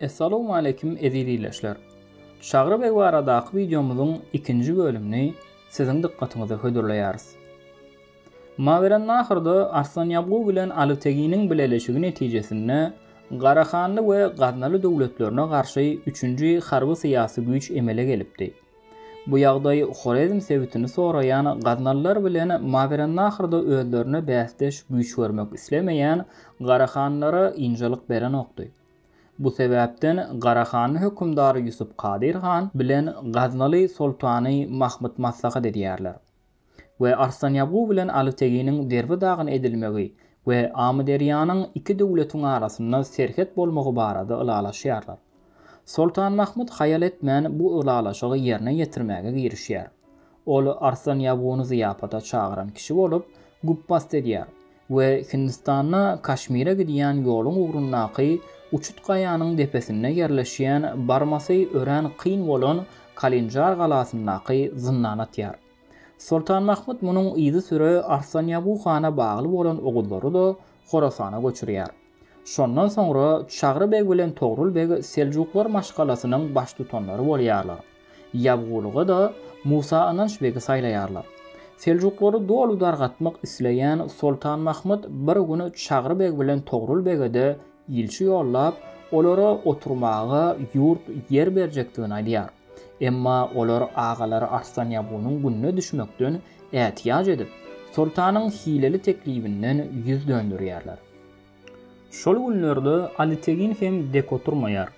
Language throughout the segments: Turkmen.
Essalowmaleýkim eziz ildeşler! Çagry beg baradaky wideomyzyň ikinji bölümini siziň dykgatyňyza hödürleýäris. Mawerannahrda Arslanýabgu bilen Alyteginiň bileleşigi netijesinde Garahanly we Gaznaly döwletlerine garşy üçünji harby-syýasy güýç emele gelipdi. Bu ýagdaý Horezm sebitini soraýan gaznalylar bilen Mawerannahrda özlerine bäsdeş güýç görmek islemeýän Garahanlara ynjalyk berenokdy. Bu sebäpden Garahanly hökümdar Ýusup Kadyr han bilen Gaznaly soltany Mahmyt maslahat edýärler we Arslan Ýagu bilen Alyteginiň Derbi dagyna edilmegi we Amyderýanyň iki döwletiň arasynda serhet bolmagy barada ylalaşýarlar. Soltan Mahmyt haýal etmän bu ylalaşygy ýerine ýetirmäge girişýär. Ol Arslan Ýaguny zyýapata çagyran kişi bolup, güpbast edýär we Hindistanda Kaşmire gidýän ýoluň ugrundaky uçut gaýanyň depesinde ýerleşýän barmasy örän kyn bolan Kalinjar galasyndaky zyndana atýar. Soltan Mahmyt munuň yzysüre Arslan Ýagu hana bagly bolan oguzlary-da Horasana göçürýär. Şondan soňra Çagry beg bilen Togrul beg seljuklar maşgalasynyň baştutanlary bolýarlar. Ýabgulyga-da Musa Ynanç begi saýlaýarlar. Seljuklary doly dargatmak isleýän Soltan Mahmyt bir gün Çagry beg bilen Togrul bege-de ilçi ýollap, olara oturmaga ýurt, ýer berjekdigini aýdýar. Emma olar agalary Arslan Ýabgunyň gününe düşmekden ätiýaç edip, soltanyň hileli teklibinden ýüz döndürýärler. Şol günlerde Alitegin hem dek oturmaýar.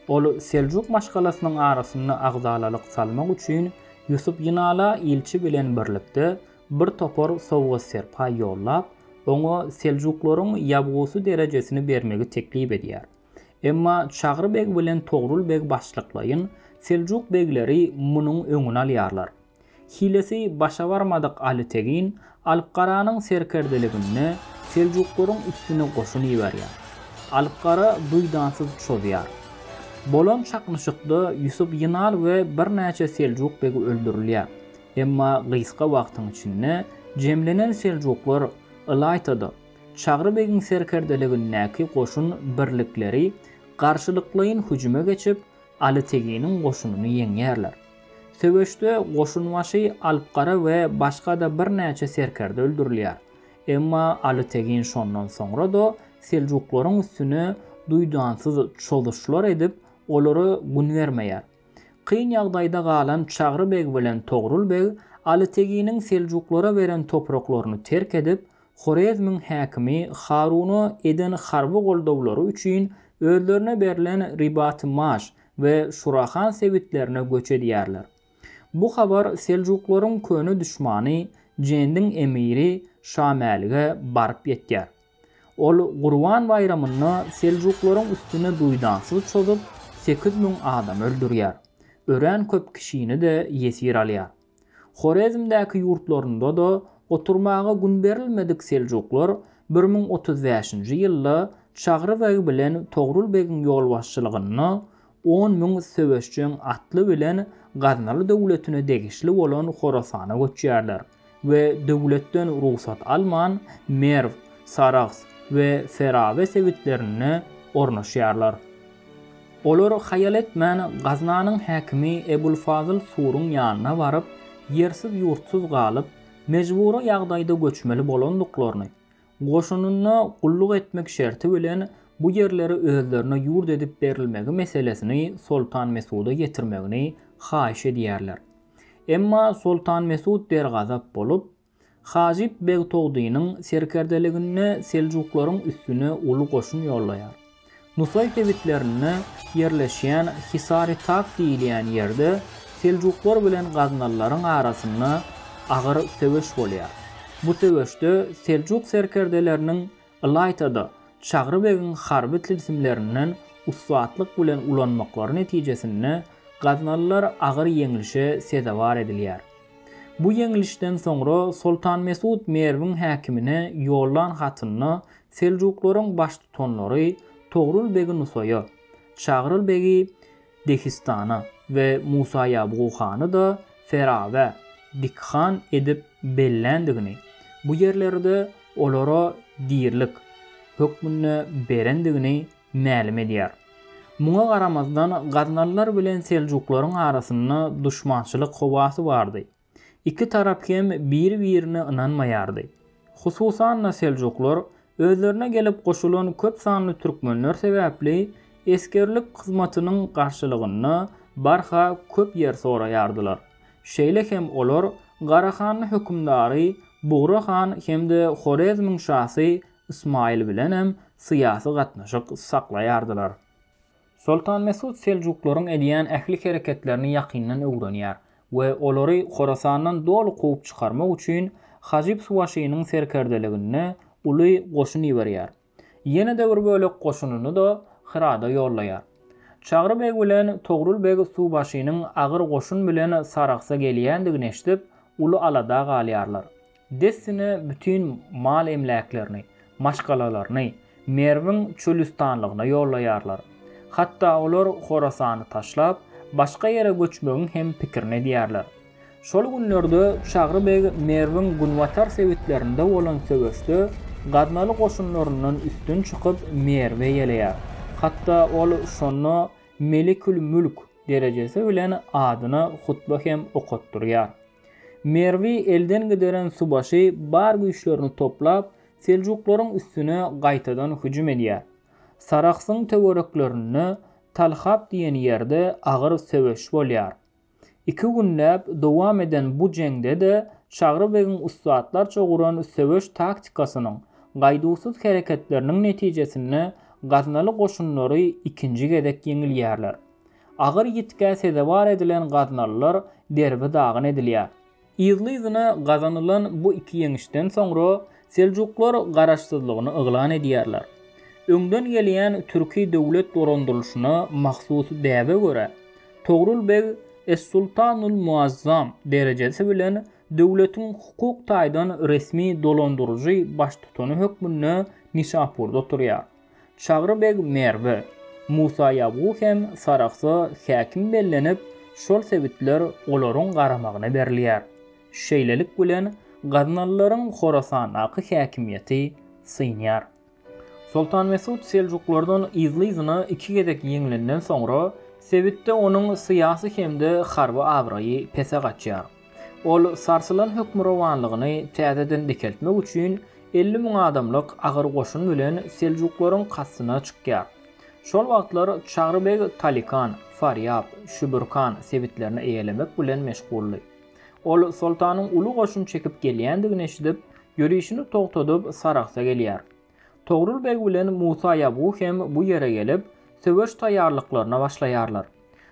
Ol Seljuk maşgalasynyň arasynda agzalalyk salmak üçin Ýusup Ýynala ilçi bilen birlikde bir topar sowgat-serpaý ýollap, oňa seljuklaryň ýabgusy derejesini bermegi teklip edýär. Emma Çagry beg bilen Togrul beg başlyklaýyn seljuk begleri munuň öňüni alýarlar. Hilesi başa barmadyk Aly Tegin Alpgaranyň serkerdeliginde Seljuklaryň üstüne goşun iberýär. Alpgara duýdansyz çozýar. Bolan çaknyşykda Ýusup Ýynal we birnäçe seljuk begi öldürilýär. Emma gysga wagtyň içinde jemlenen seljuklar ylaýta-da, Çagry begiň serkerdeligindäki goşun birlikleri garşylyklaýyn hüjüme geçip, Aly Teginiň goşunyny ýeňýärler. Söweşde goşunbaşy Alpgara we başga-da birnäçe serkerde öldürilýär. Emma Aly Tegin şondan soňra-da seljuklaryň üstüne duýdansyz çozuşlar edip, olara gün bermeýär. Kyn ýagdaýda galan Çagry beg bilen Togrul beg Aly Teginiň seljuklara beren topraklaryny terk edip, Horezmiň häkimi Haruna eden harby goldawlary üçin özlerine berlen Ribat-i-Maş we Şurahan sebitlerine göç edýärler. Bu habar seljuklaryň köne duşmany Jendiň emiri Şamälige baryp ýetýär. Ol Gurban baýramynda seljuklaryň üstüne duýdansyz çozup, sekiz müň adam öldürýär. Örän köp kişini-de ýesir alýar. Horezmdäki ýurtlarynda-da oturmaga gün berilmedik seljuklar bir müň otuz bäşinji ýylda Çagry beg bilen Togrul begiň ýolbaşçylygynda on müň söweşjeň atly bilen Gaznaly döwletine degişli bolan Horasana göçýärler we döwletden rugsat alman Merw, Sarahs we Ferabe sebitlerinde ornaşýarlar. Olar haýal etmän, Gaznanyň häkimi Ebulfazyl Suruň ýanyna baryp, ýersiz-ýurtsuz galyp, mejbury ýagdaýda göçmeli bolandyklaryny, goşunynda gulluk etmek şerti bilen bu ýerleri özlerine ýurt edip berilmegi meselesini Soltan Mesuda ýetirmegini haýyş edýärler. Emma Soltan Mesut dergazap bolup, Hajyp beg Togdynyň serkerdeliginde seljuklaryň üstüne uly goşun ýollaýar. Nusaý sebitlerinde ýerleşýän Hisary-Tag diýilýän ýerde seljuklar bilen gaznalylaryň arasynda agyr söweş bolýar. Bu söweşde seljuk serkerdeleriniň Ylaýta-da, Çagry begiň harby tilsimlerinden ussatlyk bilen ulanmaklary netijesinde gaznalylar agyr ýeňlişe sezewar edilýär. Bu ýeňlişden soňra Soltan Mesut Merwiň häkimine ýollan hatynda seljuklaryň baştutanlary Togrul begi Nusaýa, Çagryl begi Dehistana we Musa Ýabgu hany-da Ferawe, Dik han, edip belländigini, bu ýerleri-de olara dirilik hökmünde berendigini mälim edýär. Muňa garamazdan, gaznalylar bilen seljuklaryň arasynda duşmançylyk howasy bardy. Iki tarap hem biri-birine ynanmaýardy. Hususan-da seljuklar özlerine gelip goşulan köp sanly türkmenler sebäpli esgerlik hyzmatynyň garşylygynda barha köp ýer soraýardylar. Şeýle hem olar Garahanly hökümdary Bugra han hem-de Horezmiň şasy Ysmaýyl bilenem syýasy gatnaşyk saklaýardylar. Soltan Mesut seljuklaryň edýän ähli hereketlerini ýakyndan öwrenýär we olary Horasandan doly kowup çykarmak üçin Hajyp Suwaşynyň serkerdeliginde uly goşun iberýär. Ýene-de bir bölek goşunyny-da Hyrada ýollaýar. Çagry beg bilen Togrul beg suwbaşynyň agyr goşun bilen Sarahsa gelýändigini eşidip, uly alada galýarlar. Dessine bütin mal-emläklerini, maşgalalaryny Merwiň çölüstanlygyna ýollaýarlar. Hatda olar Horasany taşlap, başga ýere göçmegiň hem pikirini edýärler. Şol günlerde Çagry beg Merwiň günbatar sebitlerinde bolan söweşde gaznaly goşunlaryndan üstün çykyp, Merwe ýeleýär. Hatda ol şonda Melikül-mülk derejesi bilen adyna hutba hem okatdyrýar. Merwi elden gideren subaşy bar güýçlerini toplap, seljuklaryň üstüne gaýtadan hüjüm edýär. Sarahsyň töwereklerinde, Talhap diýen ýerde agyr söweş bolýar. Iki günläp dowam eden bu jeňde-de Çagry begiň ussatlarça guran söweş taktikasynyň, gaýduwsyz hereketleriniň netijesinde gaznaly goşunlary ikinji gezek ýeňilýärler. Agyr ýitgä sezewar edilen gaznalylar derbi-dagyn edilýär. Yzly-yzyna gazanylan bu iki ýeňişden soňra seljuklar garaşsyzlygyny yglan edýärler. Öňden gelýän türki döwlet dolandyrylyşyna mahsus däbe görä, Togrul beg es-sultanul muazzam derejesi bilen döwletiň hukuk taýdan resmi dolandyryjy baştutany hökmünde Nişapurda oturýar. Çagry beg Merwe, Musaýabgu hem Sarahsa häkim bellenip, şol sebitler olaryň garamagyna berilýär. Şeýlelik bilen, gaznalylaryň Horasandaky häkimiýeti synýar. Soltan Mesut seljuklardan yzly-yzyna iki gezek ýeňlenden soňra, sebitde onuň syýasy hem-de harby abraýy pese gaçýar. Ol sarsylan hökmürowanlygyny täzeden dikeltmek üçin elli müň adamlyk agyr goşun bilen seljuklaryň kastyna çykýar. Şol wagtlar Çagry beg Talikan, Farýap, Şübürkan sebitlerini eýelemek bilen meşguldy. Ol soltanyň uly goşun çekip gelýändigini eşidip, ýörişini togtadyp, Sarahsa gelýär. Togrul beg bilen Musa Ýabgu hem bu ýere gelip, söweş taýýarlyklaryna başlaýarlar.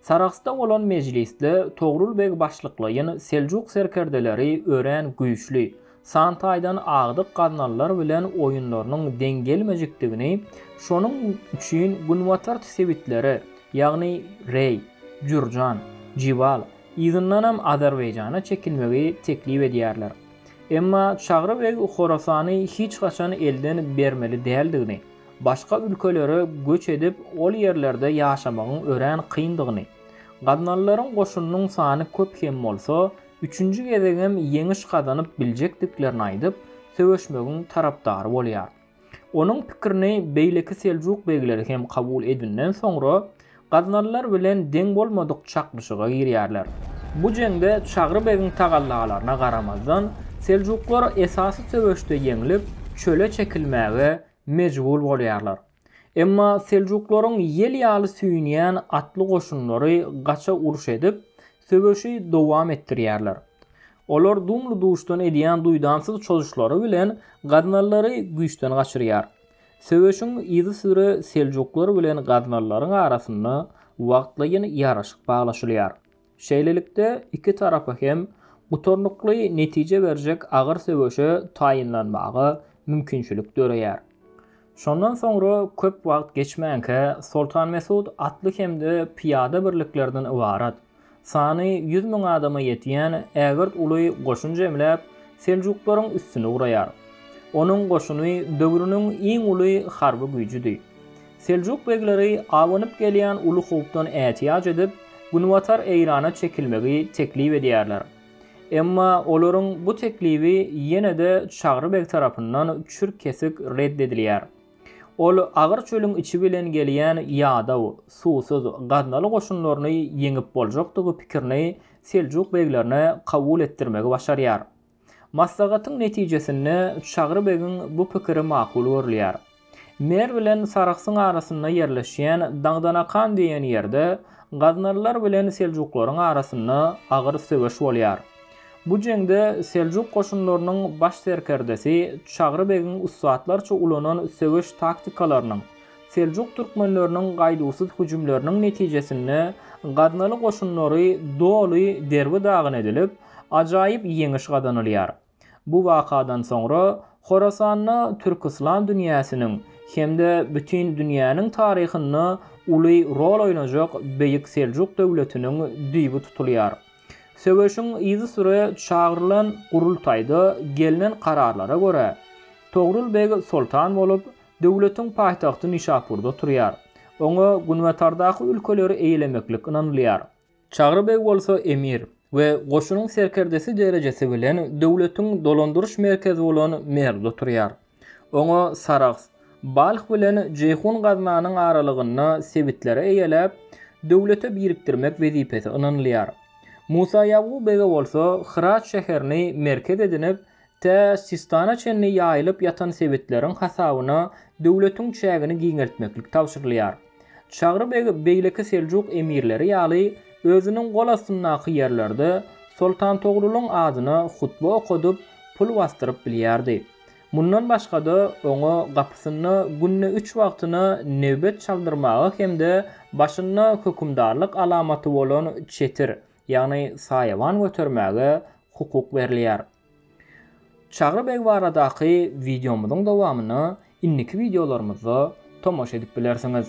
Sarahsda bolan mejlisde Togrul beg başlyklaýyn seljuk serkerdeleri örän güýçli, san taýdan agdyk gaznalylar bilen oýunlarynyň deň gelmejekdigini, şonuň üçin günbatart sebitlere, ýagny Reý, Jürjan, Jibal, yzyndanam Azerbaýjana çekilmegi teklip edýärler. Emma Çagry beg Horasany hiç haçan elden bermeli däldigini, başga ülkelere göç edip, ol ýerlerde ýaşamagyň örän kyndygyny, gaznalylaryň goşunynyň sany köp hem bolsa, üçünji gezegem ýeňiş gazanyp biljekdiklerini aýdyp, söweşmegiň tarapdary bolýar. Onuň pikirini beýleki seljuk begleri hem kabul edinden soňra, gaznalylar bilen deň bolmadyk çaknyşyga girýärler. Bu jeňde Çagry begiň tagallalaryna garamazdan, seljuklar esasy söweşde ýeňlip, çöle çekilmäge mejbur bolýarlar. Emma seljuklaryň ýel ýaly süýnýän atly goşunlary gaça uruş edip, söweşi dowam etdirýärler. Olar dumly-duşdan edýän duýdansyz çozuşlary bilen gaznalylary güýçden gaçyrýar. Söweşiň yzysüre seljuklar bilen gaznalylaryň arasynda wagtlaýyn ýaraşyk baglaşylýar. Şeýlelikde, iki tarapa hem gutarnykly netije berjek agyr söweşe taýynlanmaga mümkinçilik döreýär. Şondan soňra köp wagt geçmänkä Soltan Mesut atly hem-de pyýada birliklerinden ybarat, sany ýüz müň adama ýetýän ägirt uly goşun jemläp, seljuklaryň üstüne ugraýar. Onuň goşuny döwrüniň iň uly harby güýjüdi. Seljuk begleri abanyp gelýän uly howpdan ätiýaç edip, günbatar Eýrana çekilmegi teklip edýärler. Emma olaryň bu teklibi ýene-de Çagry beg tarapyndan çürt-kesik red edilýär. Ol agyr çölüň içi bilen gelýän ýadaw, suwsuz, gaznaly goşunlaryny ýeňip boljakdygy pikirini seljuk beglerine kabul etdirmegi başarýar. Maslahatyň netijesinde Çagry begiň bu pikiri makul görülýär. Merw bilen Sarahsyň arasynda ýerleşýän Daňdanakan diýen ýerde gaznalylar bilen seljuklaryň arasynda agyr söweş bolýar. Bu jeňde seljuk goşunlarynyň baş serkerdesi Çagry begiň ussatlarça ulanan söweş taktikalarynyň, seljuk türkmenleriniň gaýduwsyz hüjümleriniň netijesinde gaznaly goşunlary doly derbi-dagyn edilip, ajaýyp ýeňiş gazanylýar. Bu wakadan soňra Horasanda türk-yslam dünýäsiniň hem-de bütin dünýäniň taryhynda uly rol oýnajak Beýik Seljuk döwletiniň düýbi tutulýar. Söweşiň yzysüre çagyrylan gurultaýda gelnen kararlara görä, Togrul beg soltan bolup, döwletiň paýtagty Nişapurda turýar. Oňa günbatardaky ülkeleri eýelemeklik ynanylýar. Çagry beg bolsa emir we goşunyň serkerdesi derejesi bilen döwletiň dolandyryş merkezi bolan Merwde turýar. Oňa Sarahs, Balh bilen Jeýhun Gaznanyň aralygynda sebitleri eýeläp, döwlete birikdirmek wezipesi ynanylýar. Musa Ýabgu bege bolsa Hyrat şäherini merkez edinip, Tä Sistana çenli ýaýylyp ýatan sebitleriň hasabyna döwletiň çägini giňeltmeklik tabşyrylýar. Çagry beg beýleki seljuk emirleri ýaly özüniň gol astyndaky ýerlerde Soltan Togrulyň adyna hutba okadyp, pul basdyryp bilýärdi. Mundan başga-da, oňa gapysynda günde üç wagtyna nebet çaldyrmaga hem-de başynda hökümdarlyk alamaty bolan çetir, ýagny saýawan götermäge hukuk berilýär. Çagry beg baradaky wideomyzyň dowamyna indiki wideolarymyzda tomaşa edip bilersiňiz.